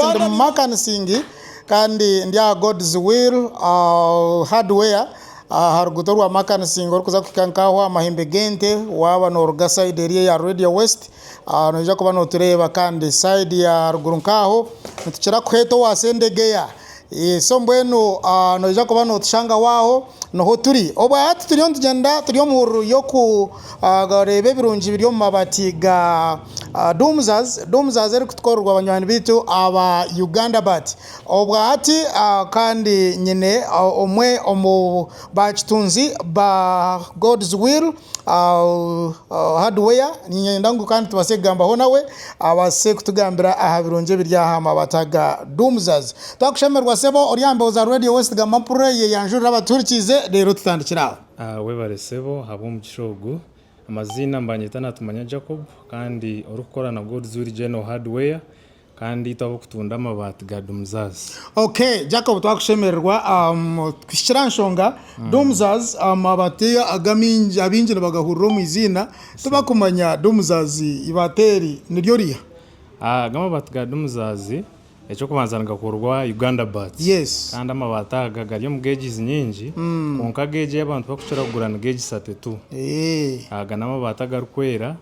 Ndi mumakanising kandi ndi aha God's will hardware aha ruguuto orwa makanising orikuza kuhika nka aho aha mahembe g'ente waaba noruga sayidi eri eya Radio West noija kuba notureeba kandi sayidi ya ruguru nka aho nitukira kuheeta owa sendegeya So mbwenu noija kuba notushangaho aho niho turi obu aha tituriyo nitugyenda turi omu hururu y'okureeba ebirungi biri omu mabati ga Dumzas, Dumzas erikutukorerwa banywani baitu aba Uganda bat. Obwa hati kandi nyine omwe omu ba kitunzi ba God's will. hardware niinyenda ngu kandi tubaase kugambaho nawe abaase kutugambira aha birungi ebiri aha mabata ga Doomsaz. Twakushemererwa sebo ori aha mbeho za Radio West gamba mpurira eyi eyanjurira abatuhurikiize reero tutandikire aho. Webare sebo ahabw'omugisha ogu. Amaziina mbanyeta Natumanya Jacob kandi orikukora na God's Will General Hardware. Kandi itwe abokutunda amabaati ga Dumzaz. Ok Jacob twakushemererwa kuhikira aha nshonga Dumzaz amabaati ago abaingi nibagahurira omu iziina tibakumanya Dumzaz ibaati eri niryo riha? Aga amabaati ga Dumzaz ekyokubanza nigakorwa Uganda Bat kandi amabaati aga gari omu gauges nyingi kwonka gauge eyi abantu barikukira kugura ni gauge isatu tu. Aga namabaati agarikwera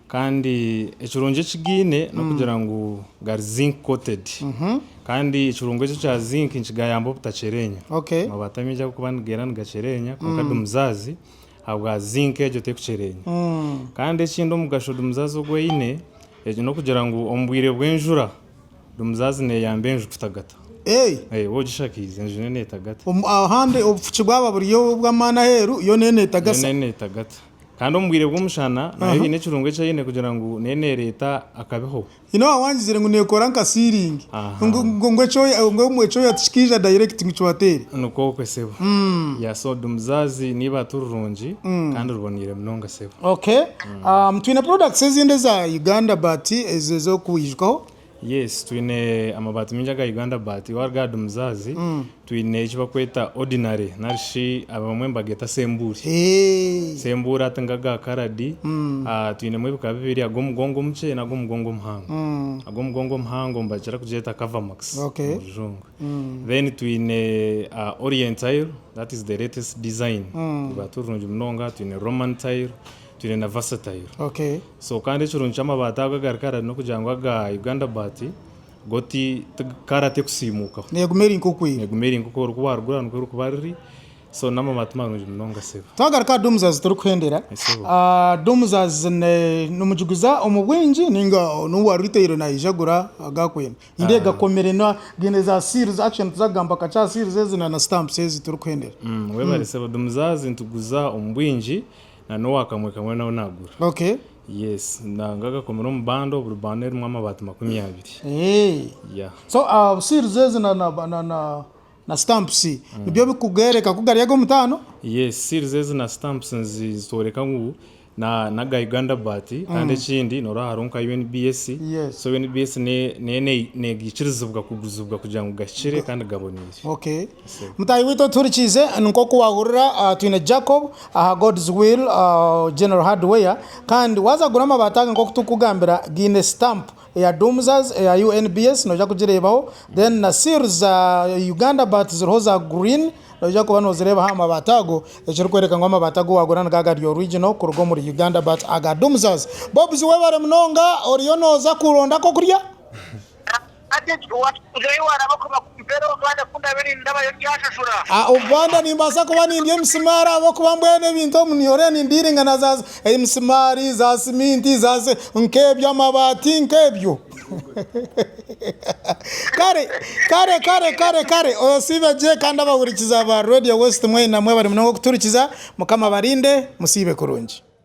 Kandi ekirungo ekigaine n'okugira ngu gari zinc coated. Kandi ekirungo eki ekya zinc nikigayamba obutakyerenya. Okay. Amabaati amaingi ahabw'okuba nigeera nigakyerenya kwonka dumuzaazi ahabwa zinc egyo terikukyerenya. Kandi ekindi omugasho dumuzaazi ogu eine egi n'okugira ngu omu bwire bw'enjura dumuzaazi neeyamba enju kutagata. Hey! Waaba ogishakiize enju neetagata. Omu- Ahandi obufuki bwaba buri obw'amaani aheeru, yo neetagasa. Yoona neetagata. Kandi omu bwire bw'omushana nayo haine ekirungo eki eine kugira ngu nayo neereeta akabeho. Nyine owa wangizire ngu neekora nka sealing, Aha. ngu- ngu- ngu ekyoya ngu ekyoya tikikaija direct ngu kibateere. Nikwo okwe sebo. Yeah, so di muzaazi n'eibaati rirungi kandi riboneire munonga sebo. Okay. Um, twine products ezindi eza Uganda but ezo ez'okwijukaho. Yes twine amabaati maingi aga Uganda but waaba ori ahari muzaazi twine eki barikweta ordinary narishi abamwe nibageeta sembuuri. Sembuuri hati nigo aga karadi. Twinemu ebika bibiri ag'omugongo omukye n'ag'omugongo omuhango. Ag'omugongo omuhango nibakira kugeeta cover max omu rujungu. Then twine orient tile that is the latest design eryaturungi munonga. Twine roman tile. twine na versatile so kandi ekirungi ky'amabaati ago agari kara n'okugira ngu aga Uganda baati go ti kara tekusiimuukaho neeguma eri nk'oku eri neeguma eri nk'oku ori ku waarugura nikwo erikuba riri so n'amabaati marungi munonga sebo. Twagaruka aha Doomsaz tirikuhendera Doomsaz nimugiguza omu bwingi nainga n'owa retail naija agura aga akwenda? Nindeeba gakomire na gaine za seals actually nituza kugamba kakye aha seals ezi na na stamps ezi tirikuhendera. Webare sebo, Doomsaz nituguza omu bwingi. na n'owa kamwe kamwe nawe nagura. Okay. Yes nanga gakomire omu bando buri bando erimu amabaati makumi abiri. Eeh. Yeah. So aah seals ezi na na na na na stamps nibyo bikugereka ku gari ag'omutaano? Yes seals ezi na stamps nizitworeka ngu na naga Uganda baat kandi ekindi norora hariho nka UNBS. Yes. So UNBS ne ne negikirizibwa kuguzibwa kugira ngu gahikire kandi gaboneire. Okay. Mutaahi waitu otuhurikiize nkoku wahurira twine Jacob aha God's Will General Hardware kandi waza kugura amabaati aga nkoku turikukugambira gaine stamp eya Doomsaz eya UNBS noija kugireebaho then na seal za Uganda but ziriho za green noija kuba nozireeba aha mabaati ago ekirikworeka ngu amabaati agu wagura nigo agari original kuruga omuri Uganda but aga Doomsaz. Bobs webare munonga oriyo noza kuronda akokurya? Hati ekyo waakikuzayo waaraaba kuba kumpera obubanda ku ndaabe niinda abayokyashashura? A Obubanda nimbaasa kuba nindya emisimaari ahabw'okuba mbwenu ebintu omu New York nindiiringa na za emisimaari, za siminti, za si, nk'ebyo, amabaati, nk'ebyo. Kare, kare, kare, kare, kare, osiibe gye, kandi abahurikiza ba Radio West mwena mwebare munonga okuturikiza. Mukama abarinde. Musiibe kurungi.